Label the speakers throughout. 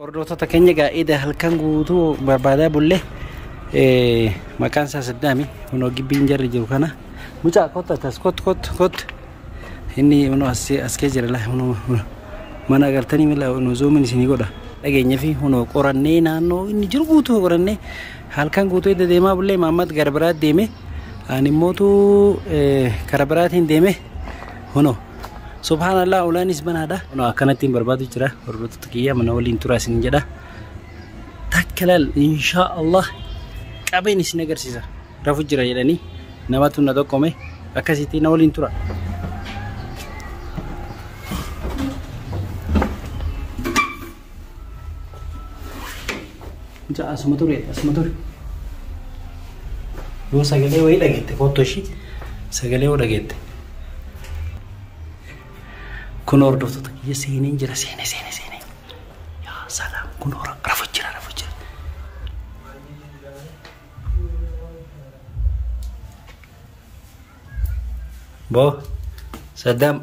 Speaker 1: Hordoftoota keenya egaa eda halkan guutuu barbaadaa bulle eh, maqaan isaa Saddaami kunoo gibbiin jarri jiru kana mucaa kottu atas kottu kottu kottu inni kunoo as as kee jira laa kunoo kunoo. mana agartanii mila kunoo zoomin isinii godha dhageenyaa fi kunoo qorannee naannoo inni jiru guutuu qorannee halkan guutuu edda deemaa bullee maammat gara biraa deeme ani immootu eh, kara biraatiin deeme kunoo Subhaanallah ulaanis banaadha. Kunoo akkanatti hin barbaadu jira. Hordoftoota kiyya mana waliin turaa isin jedha. Takka laal inshaa Allah qabeen isin agarsiisa. Rafu jira jedhanii namatu na tokkome akkasitti na waliin tura. Mucaa asuma ture asuma ture. Yoo sagalee wayii dhageette kottu ishii sagalee yoo dhageette. Kun hordoftoota kiyya seeneen jira seenee seenee seenee. Yaa salaam kun hora rafu jira rafu jira. Boo Saddam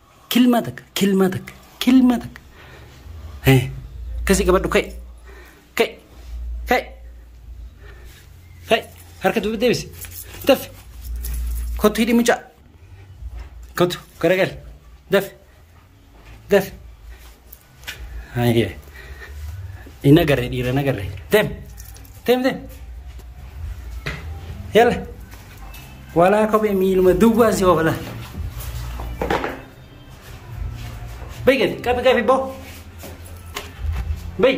Speaker 1: Kilmaa takka, kilmaa takka, kilmaa takka. Eh, Akkasii qabadhu ka'e. Ka'e. Ka'e. Ka'e. Harka duuba deebisi. Dafi. Kottu hidhi mucaa. Kottu garagali. Dafi. Dafi. Hayyee. Hin agarre dhiira hin agarre. Deem. Deem deem. Yalla. Walaa kophee miiluma duwwaa si oofala. Bayi gadi qabi qabi boo. Bayi.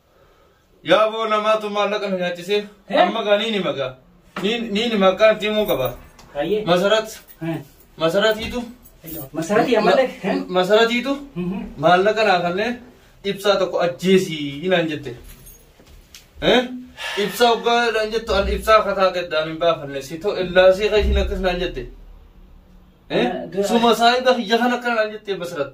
Speaker 2: Yaa boo namaatu maallaqa nu nyaachisee amma gaa niini magaa niini maqaa itti himuu qaba. Hayyee. Masarat masaratiitu Masaratii
Speaker 1: ammallee. masaratiitu
Speaker 2: maallaqa naa kanneen ibsaa tokko ajjeesii naan jette. Eh? Ibsaa hoggaa naan jettu an ibsaa akka taate addaan hin baafanne si ta'u illaasee qajiin akkas naan jette. Eh? Suma saayiba kiyya kan akka naan jette masarat.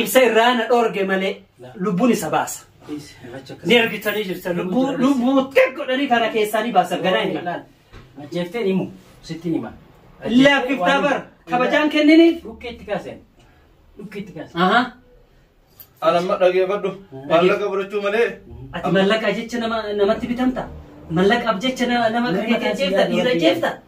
Speaker 1: Ibsa irraa na dhoorge malee lubbuun isa baasa. Ni argitanii jirtan lubbuu lubbuu xiqqoo godhanii karaa keessaa ni baasan ganaa hin malaan.
Speaker 3: Ajjeeftee himu sittiin hima. Laaffiftaa
Speaker 1: bar kabajaan kenniniif. Dhukkee itti kaaseen.
Speaker 3: Dhukkee itti kaaseen. Ahaa.
Speaker 2: Anamma dhageeffadhu. Maallaqa fudhachuu malee. Ati mallaqa
Speaker 1: jecha nama namatti bitamta. Mallaqaaf jecha nama nama kan jeefta dhiira jeefta.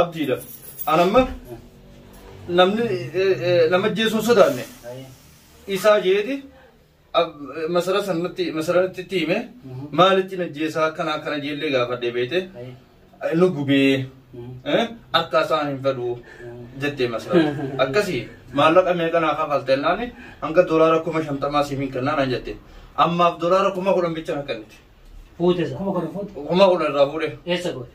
Speaker 2: abdiidha. An amma namni nama jeesuun sodaanne isaa jeeti masara sanatti masara itti hime maalitti na jeesaa akkana akkana jeellee gaafadhee beete nu gubee akka isaan hin fedhu jettee masara akkasii maallaqa meeqa naa kafaltee naani hanga doolaara kuma shantamaa siif hin kennaa naan jette ammaaf doolaara kuma kudhan bicha na kennite. Fuute isa. Kuma
Speaker 1: kudhan fuute. Kuma
Speaker 2: kudhan irraa fuudhe. Eessa goote?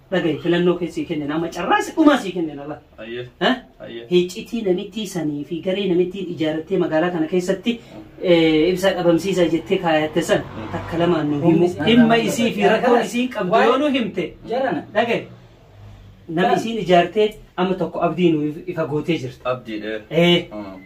Speaker 3: dhagahi filannoo kee sii kennina amma carraa isa dhumaa sii kennina la Ayyee. Eh? Ayyee. hiccitii
Speaker 2: namittii
Speaker 3: sanii fi garee namittiin ijaarrattee magaalaa kana keessatti eh, ibsaa dhabamsiisaa jettee kaayatte san takka lamaan nu himu dhimma isii fi rakkoo isiin qabdu yoo nu himte Jarana. dhagahi nama isiin ijaartee amma tokko abdii nu ifa gootee jirta Abdiidhe. Eh,
Speaker 2: Mm.